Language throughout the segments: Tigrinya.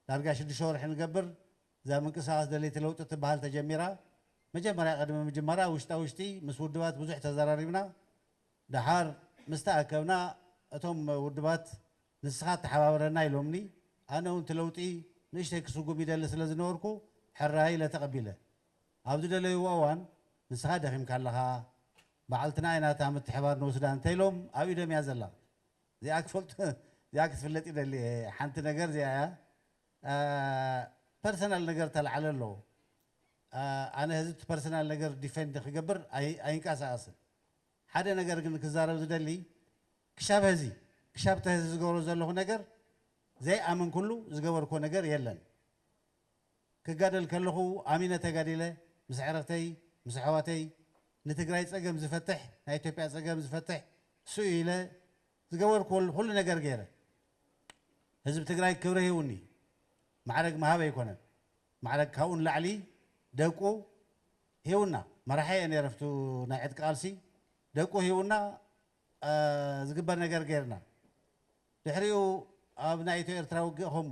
ዳርጋ ሽዱሽተ ወርሒ ንገብር እዛ ምንቅስቃስ ደለይቲ ለውጢ እትበሃል ተጀሚራ። መጀመርያ ቅድሚ ምጅማራ ውሽጣ ውሽጢ ምስ ውድባት ብዙሕ ተዘራሪብና። ደሓር ምስ ተኣከብና እቶም ውድባት ንስኻ ተሓባበረና ኢሎምኒ። ኣነ እውን እቲ ለውጢ ንእሽተይ ክስጉም ይደሊ ስለ ዝነበርኩ ሕራይ ኢለ ተቐቢለ። ኣብ ዝደለይዎ እዋን ንስኻ ደኺምካ ኣለኻ፣ በዓልትና ኢና እታ ምትሕባር ንውስዳ እንተኢሎም ኣብ ኢዶም እያ ዘላ። እዚኣ ክትፈልጡ እዚኣ ክትፍለጥ ይደሊ እየ ሓንቲ ነገር እዚኣ እያ ፐርሰናል ነገር ተላዕለ ኣሎ ኣነ ህዚ እቲ ፐርሰናል ነገር ዲፈንድ ክገብር ኣይንቀሳቀስን ሓደ ነገር ግን ክዛረብ ዝደሊ ክሻብ ህዚ ክሻብ ተህዚ ዝገብሮ ዘለኹ ነገር ዘይኣመንኩሉ ዝገበርኩዎ ነገር የለን ክጋደል ከለኹ ኣሚነ ተጋዲለ ምስ ኣዕርኽተይ ምስ ኣሕዋተይ ንትግራይ ፀገም ዝፈትሕ ናይ ኢትዮጵያ ፀገም ዝፈትሕ እሱ እዩ ኢለ ዝገበርክዎ ኹሉ ነገር ገይረ ህዝቢ ትግራይ ክብሪ ሂቡኒ ማዕረግ ምሃብ ኣይኮነን ማዕረግ ካብኡ ንላዕሊ ደቁ ሂቡና መራሒ እየ ነይረ ኣብቲ ናይ ዕጥቂ ቃልሲ ደቁ ሂቡና ዝግበር ነገር ገይርና ድሕሪኡ ኣብ ናይ ኢትዮ ኤርትራ ውግእ ከሙ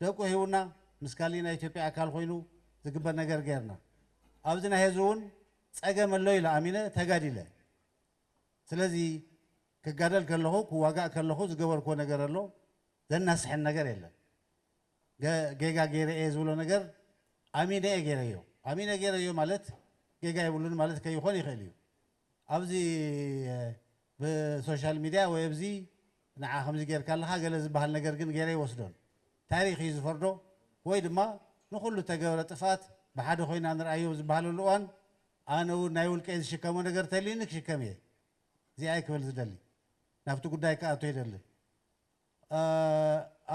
ደቁ ሂቡና ምስ ካሊእ ናይ ኢትዮጵያ ኣካል ኮይኑ ዝግበር ነገር ገይርና ኣብዚ ናይ ሀዚ እውን ፀገም ኣሎ ኢለ ኣሚነ ተጋዲለ ስለዚ ክጋደል ከለኹ ክዋጋእ ከለኹ ዝገበርኩዎ ነገር ኣሎ ዘናስሐን ነገር የለን ጌጋ ገይረ እየ ዝብሎ ነገር ኣሚነ እየ ገይረዮ ኣሚነ ገይረዮ ማለት ጌጋ የብሉን ማለት ከይኾን ይኽእል እዩ ኣብዚ ብሶሻል ሚድያ ወይ ኣብዚ ንዓ ከምዚ ጌርካ ኣለኻ ገለ ዝበሃል ነገር ግን ጌረ ኣይወስዶን። ታሪኽ እዩ ዝፈርዶ ወይ ድማ ንኹሉ እተገብረ ጥፍኣት ብሓደ ኮይና ንርኣዮ ኣብ ዝበሃለሉ እዋን ኣነ እውን ናይ ውልቀይ ዝሽከሞ ነገር ተልዩኒ ክሽከም እየ ዚኣይ ክብል ዝደሊ። ናብቲ ጉዳይ ክኣቱ ኣይደልን።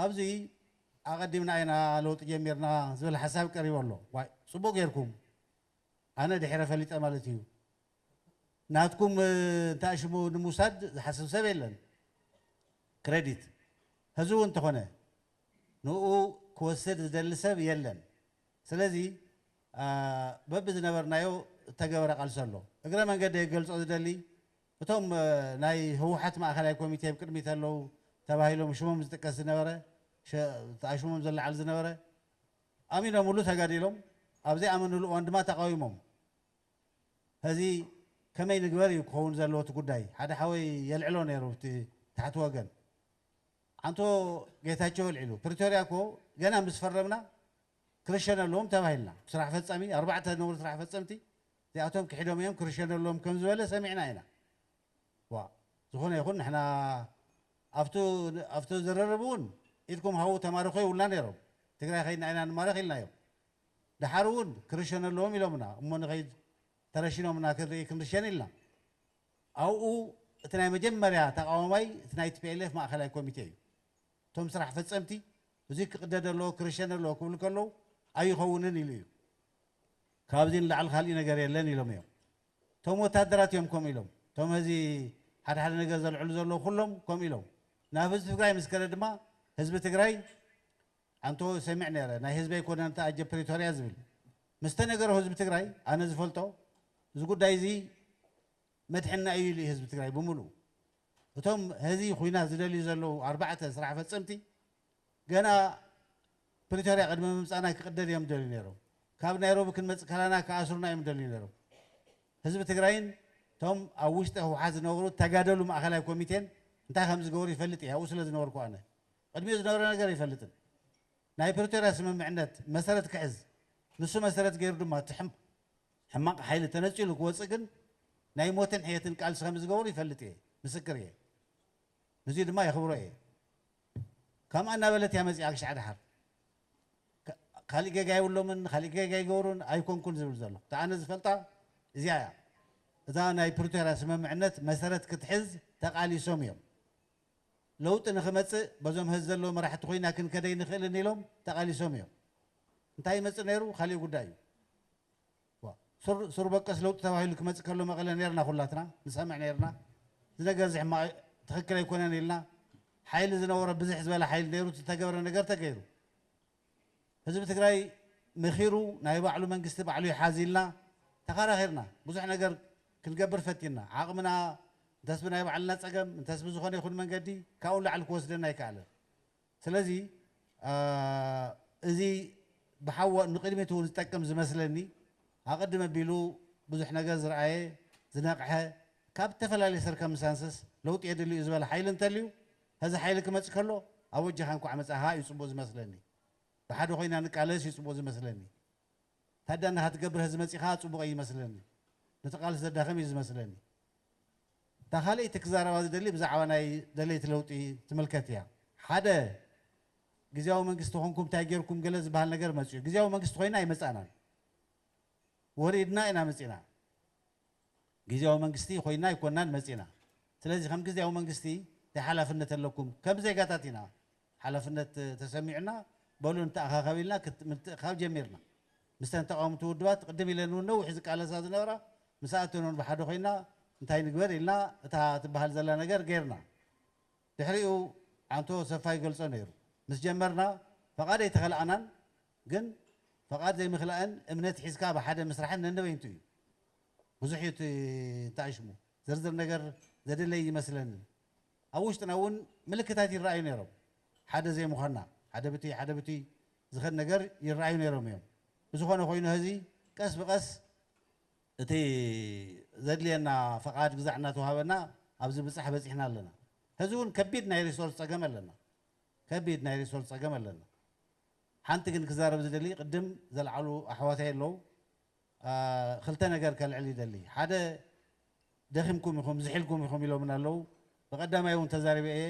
ኣብዚ ኣቐዲምና ኢና ለውጢ ጀሚርና ዝብል ሓሳብ ቀሪቡ ኣሎ። ዋይ ጽቡቕ ጌርኩም ኣነ ድሒረ ፈሊጠ ማለት እዩ ናትኩም እንተኣሽሙ ንምውሳድ ዝሓስብ ሰብ የለን ክረዲት ሀዚ እውን እንተኾነ ንኡ ክወስድ ዝደሊ ሰብ የለን ስለዚ በቢ ዝነበርናዮ እተገበረ ቃልሲ ኣሎ እግረ መንገደይ ክገልፆ ዝደሊ እቶም ናይ ህወሓት ማእኸላይ ኮሚቴ ብ ቅድሚት ኣለው ተባሂሎም ሽሞም ዝጥቀስ ዝነበረ ተኣሽሞም ዝለዓል ዝነበረ ኣሚኖምሉ ተጋዲሎም ኣብ ዘይኣመንሉ እዋን ድማ ተቓዊሞም ሀዚ ከመይ ንግበር እዩ ክኸውን ዘለዎ እቲ ጉዳይ ሓደ ሓወይ የልዕሎ ነይሩ ብቲ ታሕቲ ወገን ዓንቶ ጌታቸው ኣልዒሉ ፕሪቶርያ እኮ ገና ምስ ፈረምና ክርሸነ ኣለዎም ተባሂልና ስራሕ ፈፃሚ ኣርባዕተ ዝነበሩ ስራሕ ፈፀምቲ እዚኣቶም ክሒዶም እዮም ክርሸኑ ኣለዎም ከም ዝበለ ሰሚዕና ኢና ዋእ ዝኾነ ይኹን ንሕና ኣብቱ ኣብቱ ዝርርብ እውን ኢድኩም ሃቡ ተማረኹ ይብሉና ነይሮም ትግራይ ከይድና ኢና ንማረኽ ኢልናዮም ደሓር እውን ክርሸኑ ኣለዎም ኢሎምና እሞ ንኸይድ ተረሺኖምና ክንርኢ ክንርሸን ኢልና ኣብኡ እቲ ናይ መጀመርያ ተቓዋማይ እቲ ናይ tplf ማእኸላይ ኮሚቴ እዩ እቶም ስራሕ ፈፀምቲ እዙይ ክቕደድ ኣለዎ ክርሸን ኣለዎ ክብሉ ከለዉ ኣይኸውንን ኢሉ እዩ ካብዚ ንላዕሊ ካሊእ ነገር የለን ኢሎም እዮም እቶም ወታደራት እዮም ከምኡ ኢሎም እቶም ሀዚ ሓደ ሓደ ነገር ዘልዕሉ ዘለዉ ኩሎም ከምኡ ኢሎም ናብ ህዝቢ ትግራይ ምስ ከደ ድማ ህዝቢ ትግራይ ኣንቶ ሰሚዕ ነይረ ናይ ህዝቢ ኣይኮነን እቲ ኣጀ ፕሪቶርያ ዝብል ምስ ተነገሮ ህዝቢ ትግራይ ኣነ ዝፈልጦ እዚ ጉዳይ እዚ መድሕና እዩ ኢሉ ህዝቢ ትግራይ ብምሉእ እቶም ሀዚ ኩናት ዝደልዩ ዘለዉ ኣርባዕተ ስራሕ ፈፀምቲ ገና ፕሪቶርያ ቅድሚ ምምጻእና ክቅደድ እዮም ዝደልዩ ነይሮም። ካብ ናይሮቢ ክንመጽእ ከላና ክኣስሩና እዮም ዝደልዩ ነይሮም። ህዝቢ ትግራይን እቶም ኣብ ውሽጢ ህውሓት ዝነበሩ ተጋደሉ ማእኸላይ ኮሚቴን እንታይ ከም ዝገበሩ ይፈልጥ እየ፣ ኣብኡ ስለ ዝነበርኩ ኣነ። ቅድሚኡ ዝነበረ ነገር ኣይፈልጥን። ናይ ፕሪቶርያ ስምምዕነት መሰረት ክሕዝ፣ ንሱ መሰረት ገይሩ ድማ እቲ ሕማቕ ሓይሊ ተነጺሉ ክወጽእ ግን ናይ ሞትን ሕየትን ቃልሲ ከም ዝገበሩ ይፈልጥ እየ፣ ምስክር እየ። ንዙይ ድማ የኽብሮ እየ። ካምኣ እናበለት እያ መጺኣ ክሻዕ ደሓር ካሊእ ጌጋ የብሎምን ካሊእ ጌጋ ኣይገበሩን ኣይኮንኩን ዝብል ዘሎ እቲ ኣነ ዝፈልጣ እዚኣ እያ እዛ ናይ ፕሪቶርያ ስምምዕነት መሰረት ክትሕዝ ተቃሊሶም እዮም ለውጢ ንክመጽእ በዞም ሀዚ ዘለዉ መራሕቲ ኮይና ክንከድ ኣይንክእልን ኢሎም ተቃሊሶም እዮም እንታይ ይመጽእ ነይሩ ካሊእ ጉዳይ እዩ ዋእ ሱር ሱር በቀስ ለውጢ ተባሂሉ ክመጽእ ከሎ መቐለ ኔርና ኩላትና ንሰምዕ ኔርና እዚ ነገር እዚ ሕማቕ ትኽክል ኣይኮነን ኢልና ሓይሊ ዝነበሮ ብዝሕ ዝበለ ሓይሊ ኔሩ እቲ ዝተገብረ ነገር ተገይሩ ህዝቢ ትግራይ መኺሩ ናይ ባዕሉ መንግስቲ ባዕሉ ይሓዝ ኢልና ተኻራኺርና ብዙሕ ነገር ክንገብር ፈቲንና ዓቕምና እንተስ ብናይ ባዕልና ጸገም እንተስ ብዝኾነ ይኹን መንገዲ ካብኡ ንላዕሊ ክወስደና ኣይከኣለን ስለዚ እዚ ብሓወ ንቅድሚት እውን ዝጠቅም ዝመስለኒ ኣቀድም ኣቢሉ ብዙሕ ነገር ዝረኣየ ዝነቅሐ ካብ እተፈላለየ ሰርከምሳንሰስ ለውጢ የድሊ እዩ ዝበለ ሓይሊ እንተልዩ ሀዚ ሓይሊ ክመፅ ከሎ ኣወጃካ እንኳዕ መፃኻ እዩ ፅቡቅ ዝመስለኒ ብሓደ ኮይና ንቃለስ እዩ ፅቡቅ ዝመስለኒ ታዳን ናካ ትገብር ሀዚ መፂኻ ፅቡቅ ኣይመስለንን ንተቃልስ ዘዳክም እዩ ዝመስለኒ። እታ ካልኣይቲ ክዛረባ ዝደሊ ብዛዕባ ናይ ደለይቲ ለውጢ ትምልከት ኢያ። ሓደ ግዝያዊ መንግስቲ ኮንኩም እንታይ ጌርኩም ገለ ዝበሃል ነገር መጺኡ። ግዝያዊ መንግስቲ ኮይና ኣይመጻእናን። ወሪድና ኢና መጺእና። ግዝያዊ መንግስቲ ኮይና ኣይኮናን መጺእና። ስለዚ ከም ግዝያዊ መንግስቲ እንታይ ሓላፍነት ኣለኩም? ከም ዜጋታት ኢና። ሓላፍነት ተሰሚዑና በሉ ንተኣኻኸብ ኢልና ምትእኽኻብ ጀሚርና። ምስተን ተቓወምቲ ውድባት ቅድም ኢለን እውን ነዊሕ ዝቃለሳ ዝነበራ ምስኣተን እውን ብሓደ ኮይና እንታይ ንግበር ኢልና እታ ትበሃል ዘላ ነገር ገይርና። ድሕሪኡ ዓንቶ ሰፋ ይገልጾ ነይሩ። ምስ ጀመርና ፈቓድ ኣይተኸላእናን ግን ፈቓድ ዘይምኽላእን እምነት ሒዝካ ብሓደ ምስራሕን ነንበይንቱ እዩ። ብዙሕ እዩ እቲ እንተኣሽሙ። ዝርዝር ነገር ዘድለይ እይመስለንን። ኣብ ውሽጥና እውን ምልክታት ይረኣዩ ነይሮም። ሓደ ዘይምዃንና፣ ሓደ ብትይ ሓደ ብትይ ዝኸድ ነገር ይረኣዩ ነይሮም እዮም። ብዝኾነ ኮይኑ ሀዚ ቀስ ብቀስ እቲ ዘድልየና ፈቓድ ግዛዕ እናተውሃበና ኣብዚ ብጻሕ በጺሕና ኣለና። ሀዚ እውን ከቢድ ናይ ሪሶርስ ጸገም ኣለና። ከቢድ ናይ ሪሶርስ ጸገም ኣለና። ሓንቲ ግን ክዛረብ ዝደሊ ቅድም ዘልዓሉ ኣሕዋተይ ኣለው። ክልተ ነገር ከልዕል ይደሊ ሓደ ደኺምኩም ኢኹም ዝሒልኩም ኢኹም ኢሎምና ኣለዉ ብቀዳማይ ውን ተዛሪበ እየ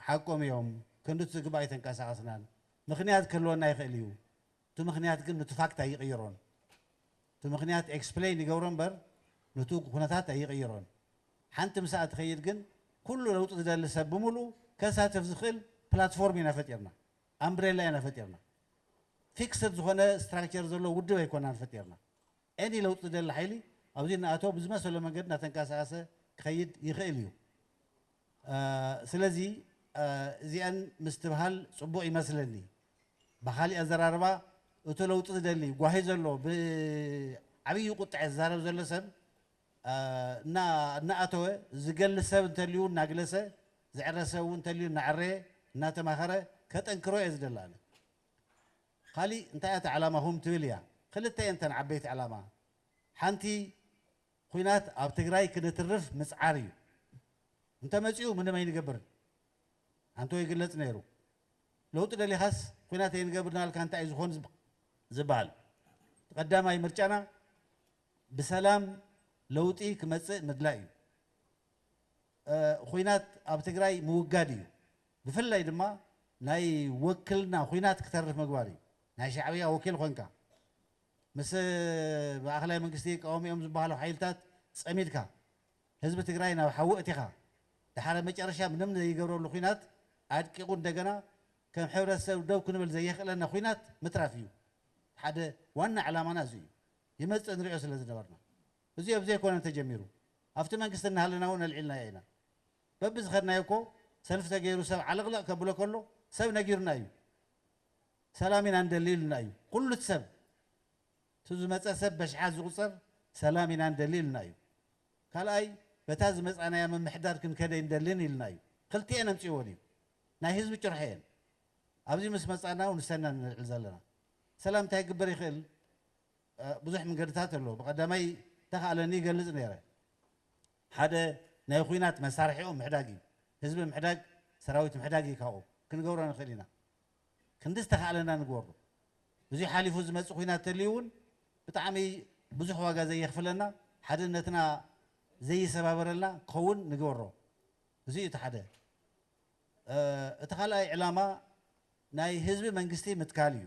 ሓቆም እዮም ክንድቲ ዝግባእ ኣይተንቀሳቀስናን ምኽንያት ክህልወና ይኽእል እዩ እቲ ምኽንያት ግን ኑቲ ፋክት ኣይቕይሮን እቲ ምኽንያት ኤክስፕለይን ይገብሮ እምበር ኑቲ ኩነታት ኣይቕይሮን ሓንቲ ምስኣ ትኸይድ ግን ኩሉ ለውጢ ዝደሊ ሰብ ብምሉኡ ከሳትፍ ዝኽእል ፕላትፎርም ኢና ፈጢርና ኣምብሬላ ኢና ፈጢርና። ፊክስድ ዝኾነ ስትራክቸር ዘለዎ ውድብ ኣይኮናን ፈጢርና። ኤኒ ለውጢ ዝደሊ ሓይሊ ኣብዚ እናኣተወ ብዝመሰሎ መንገዲ እናተንቀሳቐሰ ክኸይድ ይኽእል እዩ። ስለዚ እዚኣን ምስትብሃል ፅቡቕ ይመስለኒ። ብኻሊእ ኣዘራርባ እቱ ለውጢ ዝደሊ ጓሂ ዘለዎ ብዓብዪ ቁጥዐ ዝዛረብ ዘሎ ሰብ እና እናኣተወ ዝገሊ ሰብ እንተልዩ እናግለሰ ዝዕረ ሰብ እውን እንተልዩ እናዐረየ እናተማኸረ ከጠንክሮ እየ ዝደሊ ኣነ። ካሊእ እንታይ እያ እታ ዕላማኹም ትብል እያ። ክልተ እየን እተን ዓበይቲ ዕላማ። ሓንቲ ኹናት ኣብ ትግራይ ክንትርፍ ምፅዓር እዩ። እንተመፂኡ ምንም ኣይንገብርን ኣንቶ ይግለፅ ነይሩ። ለውጢ ደሊኻስ ኹናት ኣይንገብርን ኣልካ እንታይ እዩ ዝኾን ዝበሃል። እቲ ቀዳማይ ምርጫና ብሰላም ለውጢ ክመፅእ ምድላይ እዩ። ኹናት ኣብ ትግራይ ምውጋድ እዩ። ብፍላይ ድማ ናይ ወክልና ኹናት ክተርፍ ምግባር እዩ። ናይ ሻዕብያ ወኪል ኾንካ ምስ ማእኸላይ መንግስቲ ይቃወሙ እዮም ዝበሃሉ ሓይልታት ፀሚድካ ህዝቢ ትግራይ ናብ ሓዊ እቲኻ ደሓረ መጨረሻ ምንም ዘይገብረሉ ኹናት ኣድቂቑ እንደገና ከም ሕብረተሰብ ደው ክንብል ዘየኽእለና ኹናት ምትራፍ እዩ። ሓደ ዋና ዕላማና እዚ እዩ። ይመጽእ ንሪኦ ስለ ዝነበርና እዚ ኦብ ዘይኮነ ተጀሚሩ ኣፍቲ መንግስቲ እናሃለና ውን ኣልዒልናዮ ኢና በቢ ዝኸድናዮ እኮ ሰልፊ ተገይሩ ሰብ ዓለቕለቕ ከብሎ ከሎ ሰብ ነጊሩና እዩ ሰላም ኢና ንደሊ ኢሉና እዩ ኩሉቲ ሰብ እቲ ዝመጸ ሰብ በሽሓት ዝቑጸር ሰላም ኢና ንደሊ ኢሉና እዩ ካልኣይ በታ ዝመጻናያ ምምሕዳር ክንከድ ኣይንደልን ኢሉና እዩ ክልቲኤን ኣምጺእወን እዩ ናይ ህዝቢ ጭርሖ እየን ኣብዚ ምስ መጻና ውን ንሰና ንልዕል ዘለና ሰላም እንታይ ክግበር ይኽእል ብዙሕ ምንገድታት ኣሎ ብቀዳማይ ተካእለኒ ይገልጽ ነረ ሓደ ናይ ኹናት መሳርሒኦም ምሕዳግ እዩ ህዝቢ ምሕዳግ ሰራዊት ምሕዳግ እዩ ካብኡ ክንገብሮ ንክእል ኢና ክንዲ ዝተካእለና ንግበሮ እዚ ሓሊፉ ዝመጽእ ኹናት ተልዩ እውን ብጣዕሚ ብዙሕ ዋጋ ዘየኽፍለና ሓድነትና ዘይሰባበረልና ክኸውን ንግበሮ እዚ እዩ እቲ ሓደ እቲ ካልኣይ ዕላማ ናይ ህዝቢ መንግስቲ ምትካል እዩ።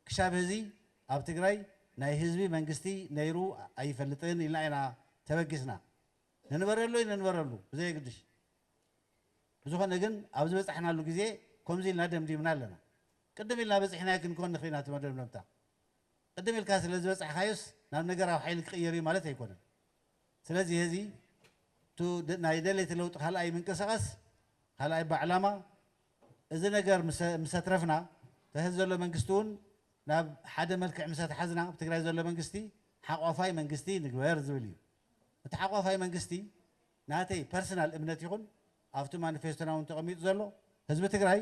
ክሻብ ሀዚ ኣብ ትግራይ ናይ ህዝቢ መንግስቲ ነይሩ ኣይፈልጥን ኢልና ኢና ተበጊስና። ንንበረሉ ኣይንንበረሉ ብዘየግድሽ። ብዝኾነ ግን ኣብ ዝበፃሕናሉ ግዜ ከምዚ ኢልና ደምዲምና ኣለና። ቅድም ኢልና በፂሕናዮ ክንከውን ንኽእል ኢና እቲ መደምደምታ። ቅድም ኢልካ ስለዝበፃሕካዮስ ናብ ነገራዊ ሓይሊ ክቕየር እዩ ማለት ኣይኮነን። ስለዚ ሔዚ እቱ ናይ ደለይቲ ለውጢ ካልኣይ ምንቅስቃስ ካልኣይ ባዕላማ እዚ ነገር ምሰትረፍና ተህዚ ዘሎ መንግስቲ እውን ናብ ሓደ መልክዕ ምሰተሓዝና ኣብ ትግራይ ዘሎ መንግስቲ ሓቋፋይ መንግስቲ ንግበር ዝብል እዩ። እቲ ሓቋፋይ መንግስቲ ናተይ ፐርሰናል እምነት ይኹን ኣብቲ ማኒፌስቶና እውን ተቀሚጡ ዘሎ ህዝቢ ትግራይ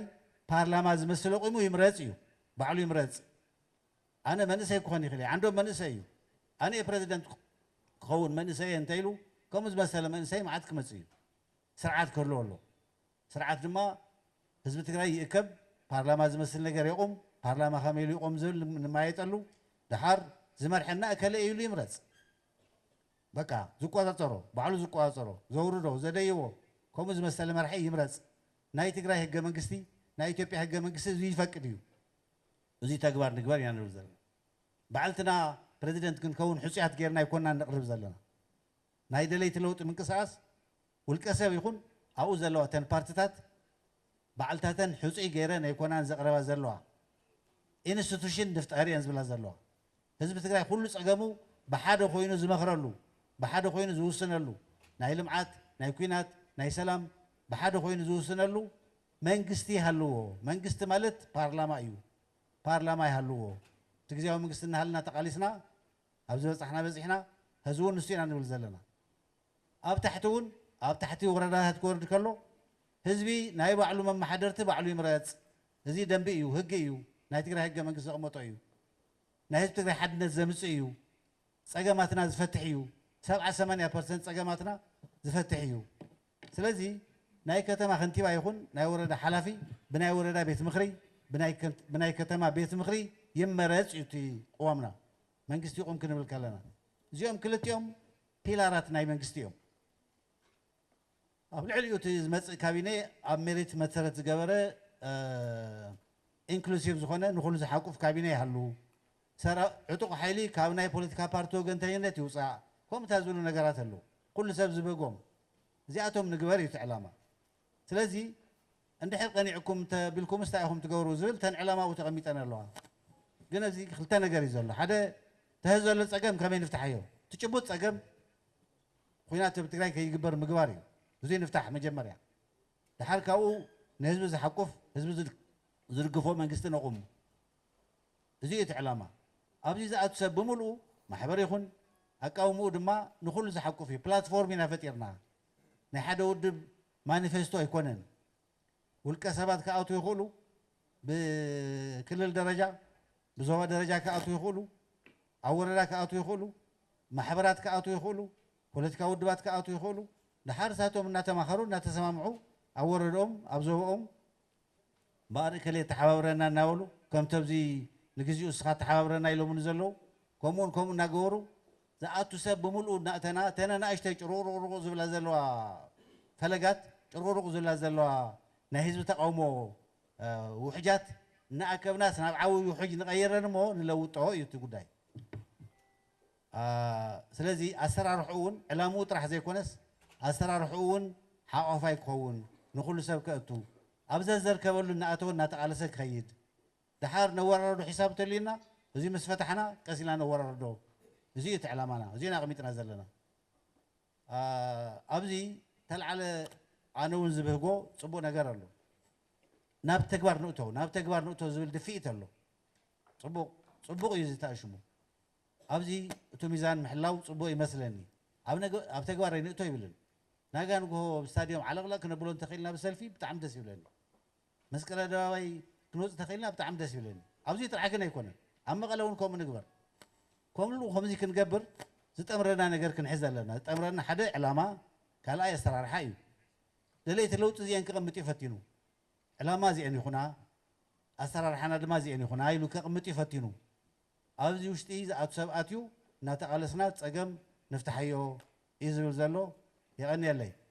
ፓርላማ ዝመስል ኣቁሙ ይምረፅ እዩ ባዕሉ ይምረፅ። ኣነ መንእሰይ ክኾን ይኽእል እየ ዓንዶም መንእሰይ እዩ ኣነ እየ ፕረዚደንት ክኸውን መንእሰይ እየ እንተኢሉ ከምኡ ዝመሰለ መንእሰይ መዓት ክመፅእ እዩ ስርዓት ክህልዎ ኣሎ ስርዓት ድማ ህዝቢ ትግራይ ይእከብ ፓርላማ ዝመስል ነገር የቑም ፓርላማ ከመይ ኢሉ ይቖም ዝብል ንመያየጠሉ ደሓር ዝመርሐና እከለ እዩ ኢሉ ይምረፅ በቃ ዝቆፃፀሮ ባዕሉ ዝቆፃፀሮ ዘውርዶ ዘደይቦ ከምኡ ዝመሰለ መራሒ ይምረፅ ናይ ትግራይ ህገ መንግስቲ ናይ ኢትዮጵያ ህገ መንግስቲ እዚ ይፈቅድ እዩ እዙይ ተግባር ንግበር ኢና ንብል ዘለና። ባዕልትና ፕረዚደንት ክንከውን ሕፁያት ገይርና ኣይኮናን ነቕርብ ዘለና። ናይ ደለይቲ ለውጢ ምንቅስቓስ ውልቀ ሰብ ይኹን ኣብኡ ዘለዋ እተን ፓርቲታት ባዕልታተን ሕፁይ ገይረን ኣይኮናን ዘቕረባ ዘለዋ። ኢንስቱሽን ንፍጠር እየን ዝብላ ዘለዋ። ህዝቢ ትግራይ ኩሉ ፀገሙ ብሓደ ኮይኑ ዝመኽረሉ፣ ብሓደ ኮይኑ ዝውስነሉ፣ ናይ ልምዓት፣ ናይ ኲናት፣ ናይ ሰላም ብሓደ ኮይኑ ዝውስነሉ መንግስቲ ይሃልዎ መንግስቲ ማለት ፓርላማ እዩ ፓርላማ ይሃልዎ እቲ ግዝያዊ መንግስቲ እናሃለና ተቓሊስና ኣብ ዝበፃሕና በፂሕና ሀዚ እውን ንሱ ኢና ንብል ዘለና ኣብ ታሕቲ እውን ኣብ ታሕቲ ወረዳታት ክወርድ ከሎ ህዝቢ ናይ ባዕሉ መመሓደርቲ ባዕሉ ይምረፅ እዚ ደንቢ እዩ ህጊ እዩ ናይ ትግራይ ህገ መንግስት ዘቕመጦ እዩ ናይ ህዝቢ ትግራይ ሓድነት ዘምፅእ እዩ ፀገማትና ዝፈትሕ እዩ ሰብዓ ሰማንያ ፐርሰንት ፀገማትና ዝፈትሕ እዩ ስለዚ ናይ ከተማ ከንቲባ ይኹን ናይ ወረዳ ሓላፊ ብናይ ወረዳ ቤት ምኽሪ ብናይ ከተማ ቤት ምኽሪ ይመረፅ እዩ እቲ ቕዋምና መንግስቲ ይቑም ክንብል ከለና እዚኦም ክልቲኦም ፒላራት ናይ መንግስቲ እዮም። ኣብ ልዕሊኡ እቲ ዝመፅእ ካቢኔ ኣብ ሜሪት መሰረት ዝገበረ ኢንክሉሲቭ ዝኾነ ንኹሉ ዝሓቁፍ ካቢኔ ይሃሉ። ሰር ዕጡቕ ሓይሊ ካብ ናይ ፖለቲካ ፓርቲ ወገንተኝነት ይውጻእ ከምኡ ታይ ዝብሉ ነገራት ኣለው ኩሉ ሰብ ዝበጎም እዚኣቶም ንግበር እዩ እቲ ዕላማ ስለዚ እንድሕር ቀኒዕኩም እንተ ቢልኩምስ ታይ ኢኹም ትገብሩ ዝብል እተን ዕላማኡ ተቐሚጠን ኣለዋ ግን ኣብዚ ክልተ ነገር እዩ ዘሎ ሓደ ተህ ዘሎ ጸገም ከመይ ንፍታሓዮ እቲ ጭቡጥ ጸገም ኹናት ኣብ ትግራይ ከይግበር ምግባር እዩ እዙይ ንፍታሕ መጀመርያ ድሓር ካብኡ ንህዝቢ ዝሓቁፍ ህዝቢ ዝድግፎ መንግስቲ ነቑም እዚ እዩ እቲ ዕላማ። ኣብዚ ዝኣቱ ሰብ ብምልኡ ማሕበር ይኹን ኣቃውምኡ ድማ ንኹሉ ዝሓቁፍ እዩ። ፕላትፎርም ኢና ፈጢርና። ናይ ሓደ ውድብ ማኒፌስቶ ኣይኮነን። ውልቀ ሰባት ክኣትዉ ይኽእሉ፣ ብክልል ደረጃ፣ ብዞባ ደረጃ ክኣትዉ ይኽእሉ፣ ኣብ ወረዳ ክኣትዉ ይኽእሉ፣ ማሕበራት ክኣትዉ ይኽእሉ፣ ፖለቲካዊ ውድባት ክኣትዉ ይኽእሉ፣ ደሓር ንሳቶም እናተማኸሩ እናተሰማምዑ ኣብ ወረድኦም፣ ኣብ ዞባኦም፣ እምበኣር እከሌ ተሓባብረና እናበሉ ከምቲ ኣብዚ ንግዚኡ እስኻ ተሓባብረና ኢሎምኒ ዘለዉ ከምኡን ከምኡ እናገበሩ ዝኣቱ ሰብ ብምልኡ እናእተና እተን ናእሽተይ ጭሩቕሩቕሩቕ ዝብላ ዘለዋ ፈለጋት ጭሩቕሩቕ ዝብላ ዘለዋ ናይ ህዝቢ ተቓውሞ ውሕጃት እናኣከብናስ ናብ ዓብይ ውሕጅ ንቐይረን እሞ ንለውጦ እዩ እቲ ጉዳይ። ስለዚ ኣሰራርሕኡ ውን ዕላምኡ ጥራሕ ዘይኮነስ ኣሰራርሕኡ ውን ሓቋፋይ ክኸውን፣ ንኹሉ ሰብ ከእቱ፣ ኣብ ዘዘርከበሉ እናኣተወ እናተቓለሰ ክኸይድ፣ ደሓር ነወራርዶ ሒሳብ እንተልዩና እዙይ ምስ ፈታሕና ቀስ ኢልና ነወራርዶ፣ እዙይ እዩ እቲ ዕላማና፣ እዙይ ኢና ኣቕሚጥና ዘለና። ኣብዚ ተልዓለ ኣነ ውን ዝብህጎ ፅቡቕ ነገር ኣሎ። ናብ ተግባር ንእቶ ናብ ተግባር ንእቶ ዝብል ድፍኢት ኣሎ። ፅቡቕ ፅቡቕ እዩ እዚ ተኣሽሙ። ኣብዚ እቱ ሚዛን ምሕላው ፅቡቅ ይመስለኒ ኣብ ተግባር ኣይንእቶ ይብልን ናጋ ንጉሆ ኣብ ስታድዮም ዓለቅለቅ ክነብሎ እንተክኢልና ብሰልፊ ብጣዕሚ ደስ ይብለኒ መስቀል ኣደባባይ ክንወፅ ተክኢልና ብጣዕሚ ደስ ይብለኒ ኣብዙይ ጥራሕ ግን ኣይኮነን ኣብ መቀለ እውን ከምኡ ንግበር ከምሉ ከምዙይ ክንገብር ዝጠምረና ነገር ክንሕዝ ኣለና ዝጠምረና ሓደ ዕላማ ካልኣይ ኣሰራርሓ እዩ ደለይቲ ለውጢ እዚኤን ክቅምጥ እዩ ፈቲኑ ዕላማ እዚኤን ይኩና ኣሰራርሓና ድማ እዚኤን ይኩና ኢሉ ከቅምጥ እዩ ፈቲኑ ኣብዚ ውሽጢ ዝኣቱ ሰብኣት እዩ እናተቓለስና ፀገም ንፍታሓዮ እዩ ዝብል ዘሎ። የቐንየለይ።